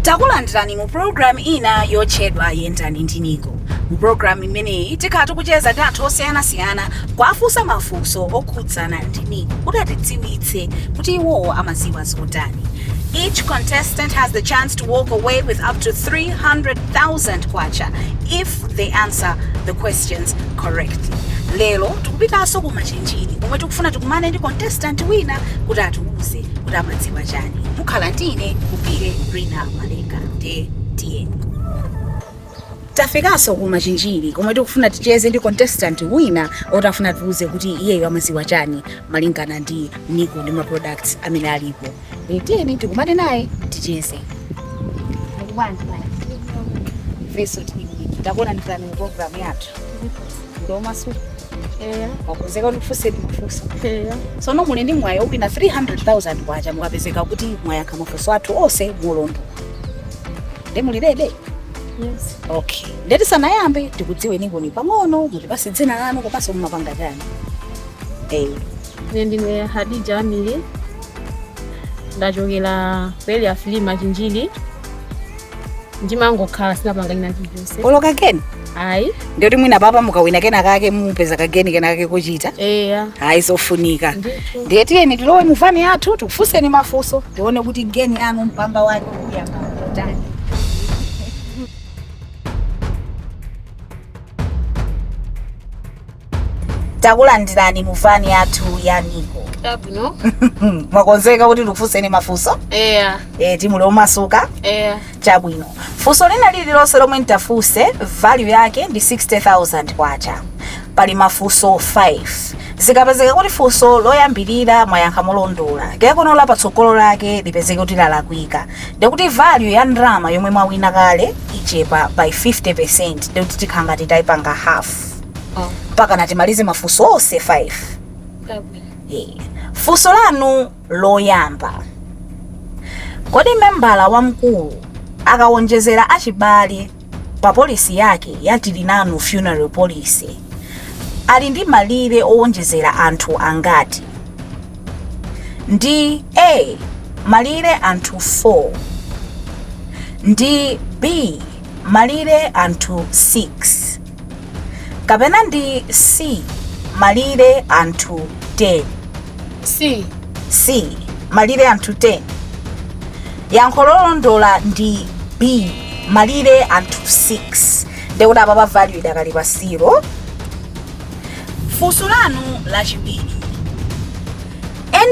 takulandirani mu pulogalamu ina yotchedwa yendani ndi nico mu pulogalamu imeneyi tikhala tikucheza ndi anthu osiyanasiyana kuwafunsa mafunso okhudzana ndi nico kuti atidziwitse kuti iwowo amadziwa zotani Each contestant has the chance to walk away with up to 300,000 kwacha if they answer the questions correctly. Lero tikupitaso ku machinjiri komwe tikufuna tikumane ndi contestant wina kuti atiuze kuti amadziwa chani. Mukhala ndi ine kupire Rina Maleka. Ndiye tiyeni. Tafikaso ku Machinjiri komwe tikufuna ticheze ndi contestant wina oti afuna atiuze kuti iyeyo amaziwa chani malingana ndi Nico ndi ma products amene alipo. E, tiyeni tikumane naye ticheze. Muli bwanji mai? Ifeso tili bwino. Takulandirani mu program yathu. Ndi omasuka. Eya. Mwakonzeka kuti tikufunseni mafunso. Eya. Sono muli ndi mwayi owina 300,000 kwacha mukapezeka kuti mwayankha mafunso athu onse molondola. Nde muli ready? Yes. Okay. Nde tisanayambe tikudziwenikoni pang'ono mutipase dzina lanu komanso mumapanga chani. Eh. Ine ndine Hadija Amiri. Ndachokera ku area 3 Machinjiri. Ndimangokhala sinapanga china chilichonse. Olo kageni? ayi ndiyoti mwina apapa mukawina kena kake mupeza kageni kena kake kochita eya hayi zofunika Ndithu. ndiye tiyeni tilowe muvani yathu tikufunseni mafunso tione kuti geni yanu mpamba wake uyamba otani takulandirani mu vani yathu ya nico Chabwino. mwakonzeka kuti ndikufunseni mafunso Eya. eti muli omasuka Eya. chabwino funso lina lililonse lomwe nditafunse value yake ndi 60000 kwacha pali mafunso 5 zikapezeka kuti funso loyambirira mwayankha molondola kenakono la patsogolo lake lipezeke kuti lalakwika ndikuti value ya ndalama yomwe mwawina kale ichepa by 50% ndikuti tikhala ngati tayipanga half Oh, mpakana timalize mafunso onse 5 chabwino. Eh, funso lanu loyamba kodi membala wamkulu akawonjezera achibale pa polisi yake ya tilinanu funeral policy ali ndi malire owonjezera anthu angati ndi a malire anthu 4 ndi b malire anthu 6 kapena ndi C. malire anthu 10? C. C. malire anthu 10. Yankho lolondola ndi B. malire anthu 6. Ndekuti apa pa value idakali pa 0. Funso lanu lachiwiri.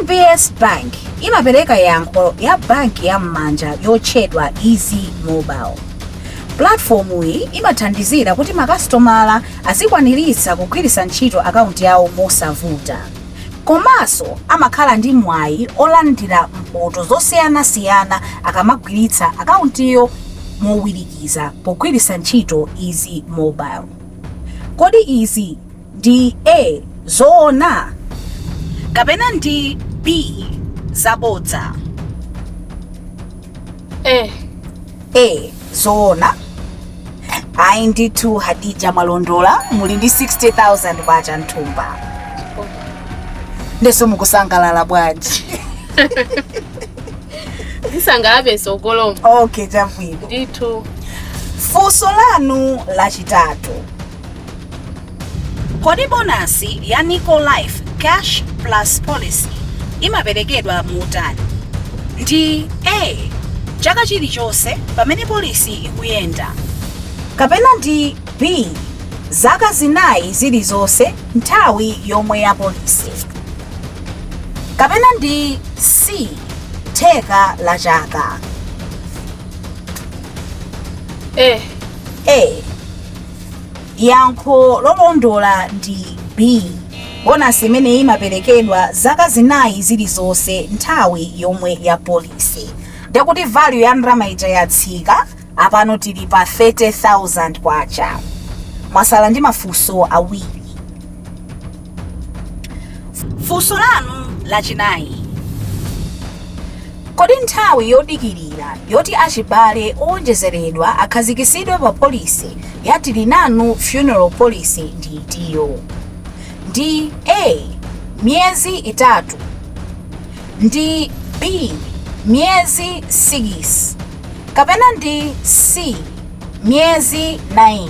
NBS Bank imapereka yankho la banki ya m'manja yotchedwa Easy Mobile. Pulatifomuyi imathandizira kuti makasitomala azikwaniritsa kugwiritsa ntchito akaunti yawo mosavuta. Komanso amakhala ndi mwayi olandira mphoto zosiyanasiyana akamagwiritsa akauntiyo mowirikiza pogwiritsa ntchito Easy Mobile. Kodi izi ndi A, zoona kapena ndi B, zabodza? A. A, zoona Ayi ndithu Hadija mwalondola muli ndi 60,000 kwacha m'thumba ndeno mukusangalala bwanji Ndisangalala sogoloma. okay chabwino Ndithu. funso lanu lachitatu Kodi bonasi ya Nico Life Cash Plus Policy imaperekedwa motani? Ndi A. Chaka chilichonse pamene polisi ikuyenda. Kapena ndi B. Zaka zinayi zilizonse nthawi yomwe ya polisi. Kapena ndi C. Theka la chaka. A. A. yankho lolondola ndi b bonasi imeneyi imaperekedwa zaka zinayi zilizonse nthawi yomwe ya polisi ndekuti value ya ndalama ija yatsika apano tili pa 30000 kwacha mwatsala ndi mafunso awiri funso lanu lachinayi kodi nthawi yodikirira yoti achibale owonjezeredwa akhazikitsidwe pa polisi ya tili nanu funeral policy ndi itiyo ndi a miyezi itatu ndi b miyezi 6 kapena ndi c miyezi 9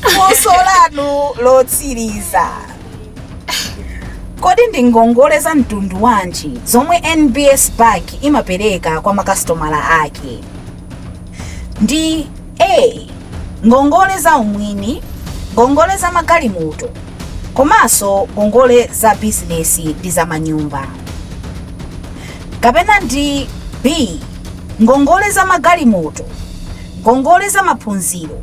funso lanu lotsiriza kodi ndi ngongole za mtundu wanji zomwe nbs bank imapereka kwa makasitomala ake ndi a ngongole za umwini ngongole za magalimoto komanso ngongole za bizinesi ndi za manyumba kapena ndi b ngongole za magalimoto ngongole za maphunziro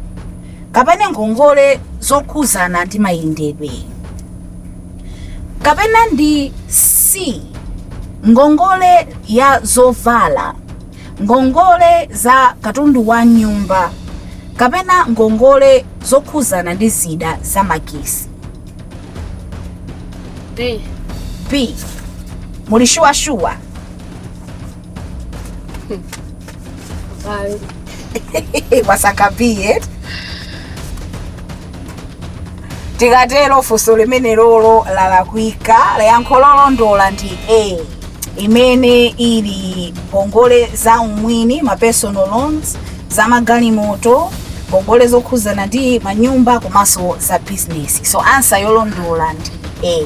kapena ngongole zokhuzana ndi mayendedwe kapena ndi c ngongole ya zovala ngongole za katundu wa m'nyumba kapena ngongole zokhuzana ndi zida za magesi b muli shuwashuwa mwasankha b tikatero funso limenelolo lalakwika yankho lolondola ndi a imene ili ngongole za umwini ma personal loans za magalimoto ngongole zokhuzana ndi manyumba komanso za bizinesi so ansa yolondola ndi a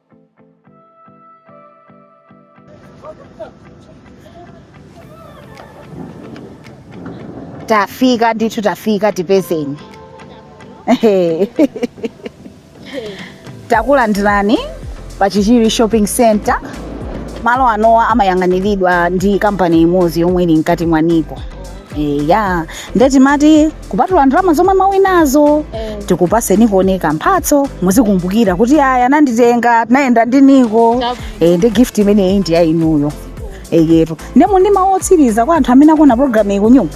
tafika ndithu tafika tipezeni Ehe. takulandirani pa chichiri shopping center malo anowa amayang'aniridwa ndi kampani imodzi yomwe ili mkati mwa niko eya nde timati kupatula ndalama zomwe mwawinazo tikupaseni konseko mphatso muzikumbukira kuti aya ananditenga tinayenda ndi niko Chabwino. e, ndi gift imeneyi ndi ya inuyo eyetu ndemo ndi mawu otsiriza kwa anthu amene akuona programu iyi kunyumba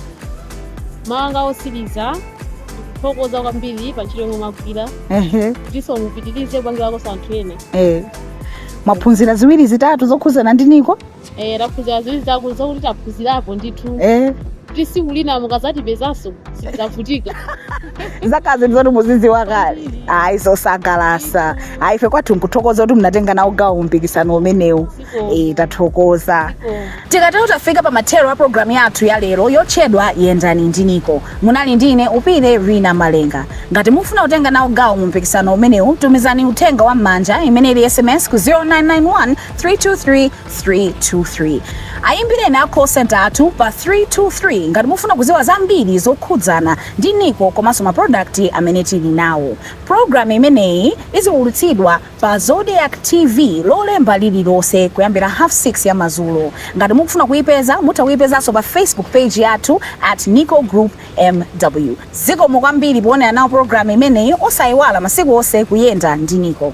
mawu anga osiriza ndikuthokoza kwambiri pa ntchito yomwe mwagwira Ehe, ndiso mupitirize kupangirakonso anthu ena eh. mwaphunzira ziwiri zitatu zokhuzana ndi niko Eh, taphunzira ziwiri zitatu zokuti taphunzirapo ndithu eh kuti siku lina mukazatipezanso sitidzavutika zakhala zinthu zoti muzidziwa kale ayi zosangalatsa ayi ife kwathu nkuthokoza kuti munatenga nawo gawo mumpikisano umenewu eh tathokoza tikatero tafika pa mathero a programu yathu ya lero yotchedwa yendani ndi niko munali ndi ine upire rina malenga ngati mufuna kutenga nawo gawo mu mpikisano umenewu tumizani uthenga wa m'manja imene ili sms ku 0991 323 323 ayimbireni a call center athu pa 323 ngati mukufuna kuziwa zambiri zokhudzana ndi Nico komanso ma product amene tili nawo. Program imeneyi iziwulutsidwa pa Zodiak TV lolemba lililonse kuyambira half 6 ya mazulo. Ngati mukufuna kuyipeza mutha kuyipezanso pa Facebook page yathu at Nico Group MW. Zikomo kwambiri powonera nawo program imeneyi osayiwala masiku onse kuyenda ndi Nico.